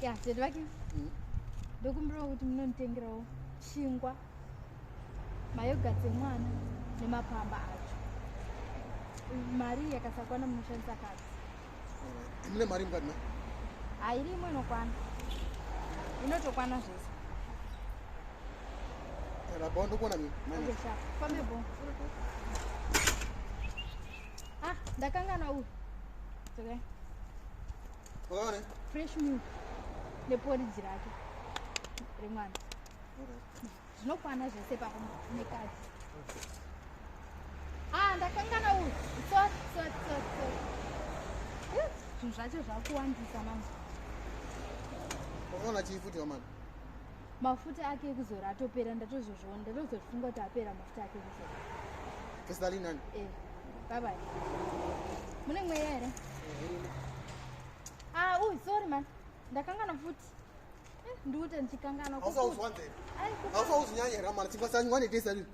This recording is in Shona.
ya tete vake mm. ndokumbirawo kuti munonditengerawo chingwa mayoga dzemwana nemapamba acho mari yakasakwana munoshandisa kati eh, mune mari mukati na hairi imwe inokwana inotokwana zvese eh, rabao ndokuona mifambebo Ah, ndakangana uyu. It's okay. Ore. Fresh milk. Neporidzi rake. Remwana. Ore. Zvinokwana zvese pako nekadzi. Ah, ndakangana uyu. It's okay, it's okay, it's okay. Eh, zvinhu zvacho zvakuwandisa manje. Unaona chifuti wamana. mafuta ake ekuzora atopera ndatozozviona ndatozozvifunga kuti apera mafuta ake ekuzora kesalinani e eh, babai mune mweya here a ah, uy sorry man ndakangana futi eh, ndiute ndichikangana ausauzwanzei ausauzvinyanya here mani chikwasanyiwane kesalinani